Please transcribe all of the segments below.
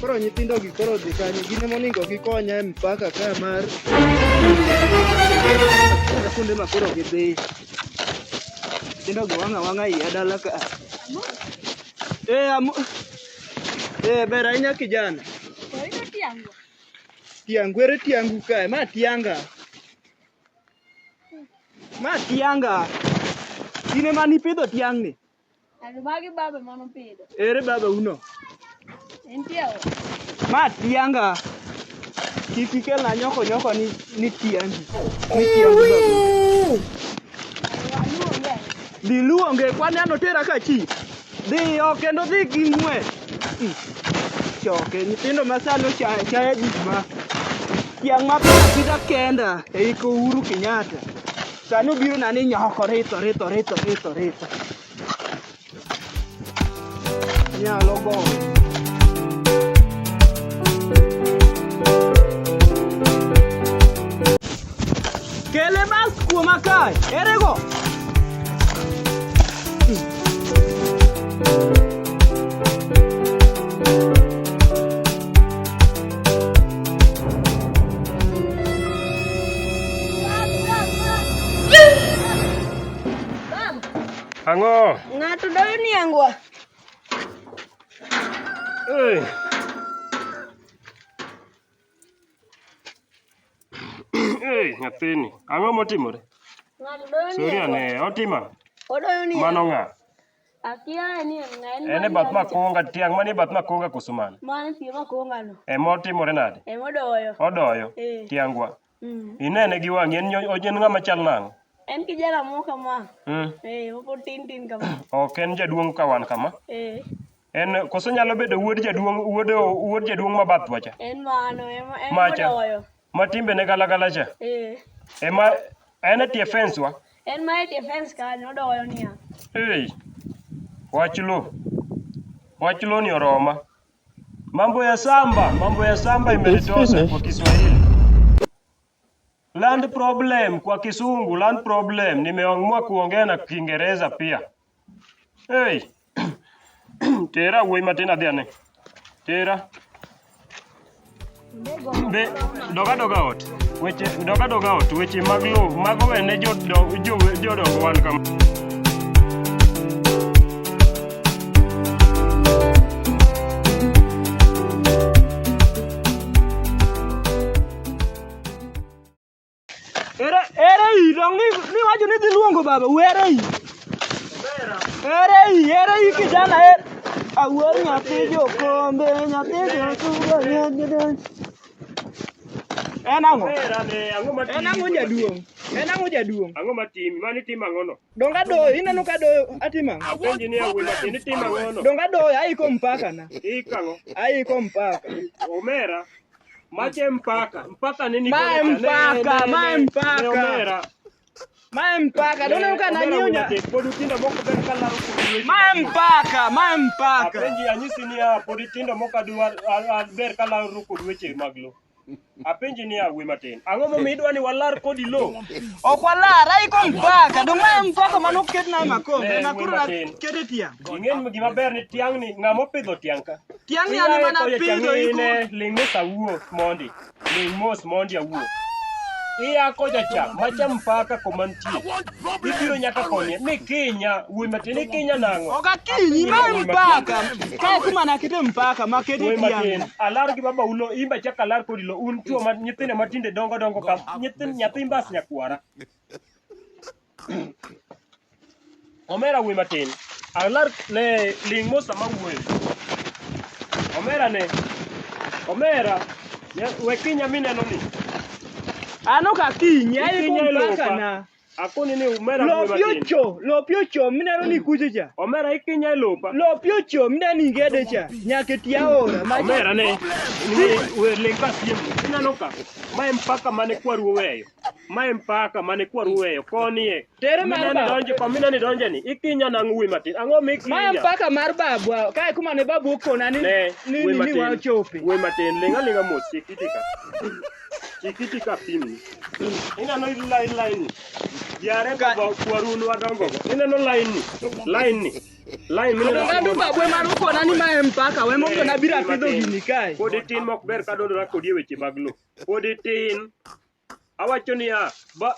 Koro nyithindo gi koro dhi kanye? Gin ema onego gikonya e mpaka ka mar kuonde ma koro gidhi. Nyithindo gi wang'a wang'a iya dala ka. Eh, amo. Eh, ber ahinya kijana. Tiangu ere tiangu kae, ma tianga. Ma tianga. In ema nipidho tiang'ni. Ero magi baba mano pidho. Ere baba uno? Entie o. Ma tianga. Kik ikel na nyoko nyoko ni ni tiangi. Ni tiangi. Diluonge kwane ano tera ka chi. Dhiyo kendo dhi gi ng'we. Hmm. Choke nyithindo ma sani ochaya chaya gik ma tiang' ma pidha kenda e iko Uhuru Kenyatta. Sani obiro na ni nyoko rito rito rito rito rito. Nyalo goyo. Kele bas kuoma kae. Erego. Ang'o? Ng'ato doyo ni angwa. Hey. Hey, nyathini. Ang'o motimore? Ng'ato doyo ni. Sori ane, otima. Odoyo ni. Mano ng'a? ene bath makonga tiang' mani bath makonga koso mano e motimore nade odoyo e. tiangwa mm. inene gi wang'i en ng'ama chal nang'o en kijana moro kama mm. e, mopod tin tin kama ok en jaduong' ka wan kama e. en koso nyalo bedo wuod jaduong' wuod wuod jaduong' ma bathwa cha en mano macha Ma timbe ne galagala cha. Eh. Ema en e tie fence wa. En ma e tie fence kanyo odoyo niya. Hey. Wach lo. Wach lo ni oroma. Mambo ya samba, mambo ya samba imenitosa kwa Kiswahili. Land problem kwa Kisungu, land problem. Nimeamua kuongea na Kiingereza pia. Hey. Tera wuoyi matin adhi ane. Tera. Be doga doga ot. Weche doga doga ot. Weche mag lowo mago wene jodongo jodongo wan kama. Ere ere i dong ni ni wacho ni dhi luongo baba were i. Ere i ere i kijana er. Awuor nyathi jokombe nyathi jotugo nyagede. En ang'o? Omera ne ang'o ma En ang'o jaduong'? En ang'o jaduong'? Ang'o ma timi? Mani tim ang'o no? Donga doyo ineno ka doyo atimo ang'o? Apenji ni awuoyi matin ni tim ang'o no? Donga doyo aiko mpaka na. Ik ang'o? Aiko mpaka. Omera Mache mpaka mpaka nini? Mae mpaka, mae mpaka. Mae mpaka, dona eh, uka na nyonya. Podutindo moko ber kala ruko. Mae mpaka, mae mpaka. Apenji anyisi ni a podutindo moko adwar ber kala ruko weche mag lo. Apenji ni awe matin. Ang'o momiyo idwa ni walar kodi lo? Ok walar, ai ko mpaka. Dong mae mpaka mano ket na makombe. Eh, na kuro kete tiang'. Ing'e gima ber ni tiang' ni ng'ama opidho tiang' ka. Tiang' yani Iyaye mana koyo pidho chang'ine, iku. ling' mos awuo mondi ling' mos mondi awuo iya koja cha macha mpaka koma nitie ibiro nyaka konye ni kinya wuoyi matin ni kinya nang'o Okakinyi ma mpaka. Kae kuma nakete mpaka makete wuoyi matin tiang'. alar gi baba ulo imba chaka alar kodi lo un chuo ma nyithindo matinde dongo dongo ka nyithind nyathi mbas nyakwara Omera wuoyi matin. Alar ne ling' mos sama wuoyo. Omera ne. Omera. ne- We kinya mineno ni. An ok akinyi, aiko Ikinya e lopa. mpaka na. Akoni ni omera wuoyi Lopi matin. ocho, lopi ocho, mineno ni kucho cha. Omera ikinya e lopa. Lopi ocho, mineno ni ingede cha. Nyaka eti aora. Macha- Omera ne. Ni we ling' ka siem. Ineno ka. Ma en mpaka mane kwaru oweyo. Mae mpaka mane kwa ruweyo konie. Tere mar baba. Donje kwa mina ni donje ni. Ikinya na ngui matin. Ang'o mikinya? Mae mpaka mar babu. Kae kuma ne babu okona ni ni ni wa chope. Ngui matin lenga lenga mos chikitika. Chikitika pimi. Ina no line line. Yare ka kwa runu wadongo. Ina no line ni. Line ni. Line ni. Ina no babu e mar okona ni mae mpaka. Wemo kona bira pidho gini kae. Kodi tin mok ber ka dondora kodi e weche mag lo. Pod itin. Awacho niya, ba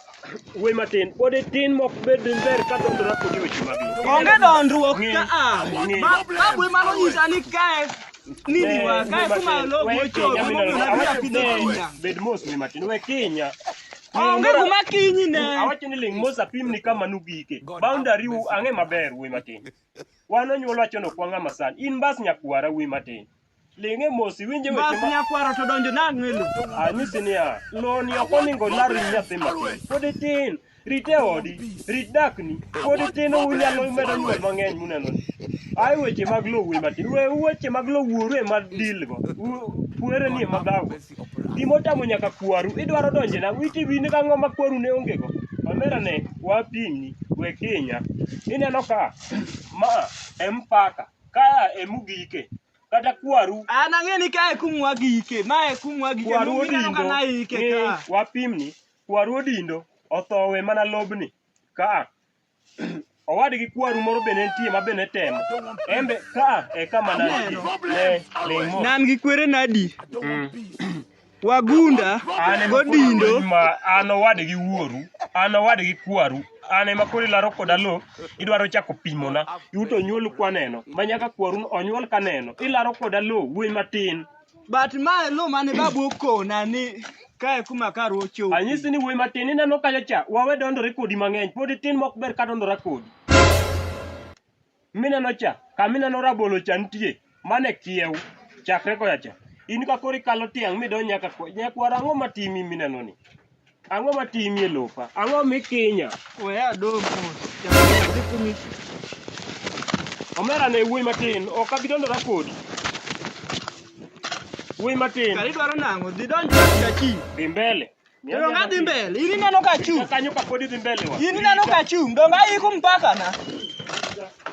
wuoyi matin, pod itin mok bed ber ka dondora kodi weche mag lowo. Onge dondruok Ng'e. ka a. Ng'e. Ma ka bwe mano nyisa ni kae nini wa kae kuma logo We ocho kinya kuma mineno. na Awacho pidho ni kinya. bed mos ni matin, we kinya. Onge Ng'e. kuma kinyi ne. Awacho ni ling' mos apim ni kama nugike. Boundary u ang'e maber wuoyi matin. Wan onyuol wachono kwa ng'ama san. In bas nyakwara wuoyi matin. Ling'e mos iwinje weche Bas ma nyakwaro to donjo nang'o e lo. anyisi niya, loni ok oningo olar wi nyathi matin. Pod itin, rit e odi, rit dakni. Pod itin unyalo medo nyuol mang'eny muneno ni. Ae weche mag lo wuoyi matin. We weche mag lo wuoru e ma deal go. U- Puere ni e ma dhago. Gima otamo nyaka kwaru, idwaro donje na witi wini ka ng'o ma kwaru ne onge go. Omera ne wapimni we kinya. Ineno ka ma empaka. Ka e mugike. Kata kwaru. An ang'e ni ka e kumwa gike. Ma e kumwa gike. Kwaru Mumi neno ka odindo. na ike Ni ka. wapimni. Kwaru odindo. Othowe mana lobni. Ka. Owadgi kwaru moro be ne nitie ma be ne temo. Embe ka e kama nantie. Ne ling' mos. Nan gi kwere nadi? Mm. Wagunda An ema koro godindo. lweny ma an owadgi wuoru, an owadgi kwaru, an ema koro ilaro koda lo, idwaro chako pimona. Iu to onyuolu kwaneno, ma nyaka kwaru onyuol kaneno. Ilaro koda lo, wuoyi matin. But ma lo mane babu okona ni kae kuma kar ochopo. Anyisi ni wuoyi matin, ineno kanyo cha, wawe dondore kodi mang'eny, pod itin mok ber ka dondora kodi. mineno cha kama ineno rabolo cha nitie mane kiew chakre koya cha in ka koro ikalo tiang' midonj nyaka kwa- nyakwara ang'o matimi mineno ni ang'o matimi e lopa ang'o mikinya We adong' mos. Jaber, dhi kumi. omera ne wuoyi matin ok abi dondora kodi wuoyi matin Kari dwaro nang'o? Dhi donj ka chi. dhi mbele Donga adhi mbele. In ineno ka achung'. Kanyo ka pod idhi mbele wa. In ineno ka achung'. Donga aiko mpaka na.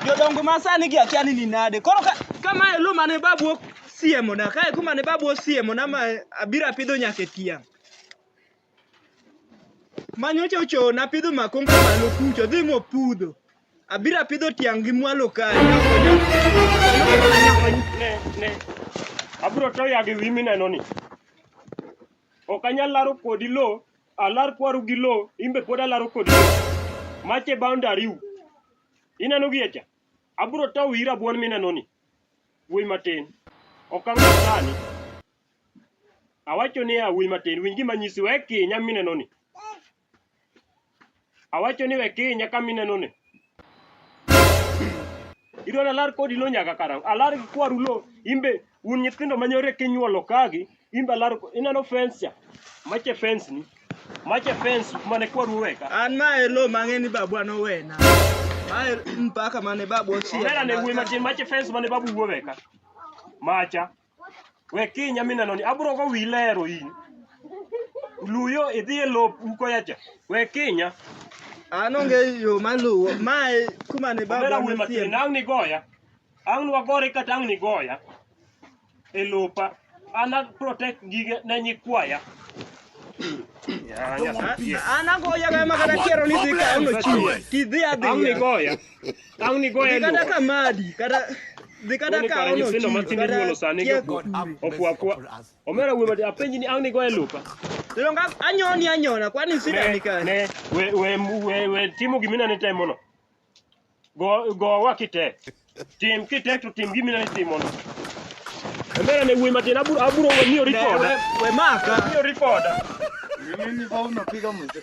Jodongo ma sani gi akia ni ni nade. Koro ka kama elu mane babu ok siemo na. Kae kuma ne babu osiemo na ma abiro apidho nyaka e tiang'. Manyocha ocho na pidho makonga malo kucho dhi mo pudho. Abiro apidho tiang' gi mwalo kae. Ne, ne. Abro to ya gi wi mineno ni. Ok anyal laro kodi lo, alar kwaru gi lo, imbe pod alaro kodi lo. Mache boundary u. Ineno gi echa? Abro tow ira buon mineno ni. Wuoy matin. Ok ang'e sani. Awacho ni a wuoy matin, winj gima nyisi wek kinya mineno ni. Awacho ni we kinya kama ineno ni. Idwaro alar kodi lo nyaka karang'o? Alar gi kwaru lo imbe un nyithindo manyore kinyuolo kagi imbe alar ineno fence cha. Mache fence ni. Mache fence mane kwaru weka. An ma e lo mang'e ni babwa nowena. Ma e mpaka mane babwa ochiel. Omera ne wuoyi matin mache fence mane babu wuoweka. Macha. We kinya mineno ni abro go wi lero in. Luyo idhi e lop uko yacha. We kinya. An onge yo maluwo. Mae kuma ne Omera baba wuoyi matin. nosie. Ang' ni goya. Ang' ni wagore kata ang' ni goya. E lopa. An a protect gige ne nyikwaya. Ya, ya, ya. An agoya ga ma kata kiero ni dhi kawo no chiwo. Kidhi adhi. Ang' ni goya. Au ni goye ndo. Nikata kamadi, kata nikata ka ono. Nyithindo matindo nyuolo sani go. Okwa kwa. Omera wuo mati apenji ni au ni goye lupa. Lero nga anyoni anyona kwani sida nika. Ne we we we, we timo gimina ne temo no. Go go wakite. Tim kite to tim gimina ne timo no. Omera ne wuo mati aburo aburo miyo rikoda. We maka. Miyo rikoda. Mimi ni bau napiga mzee.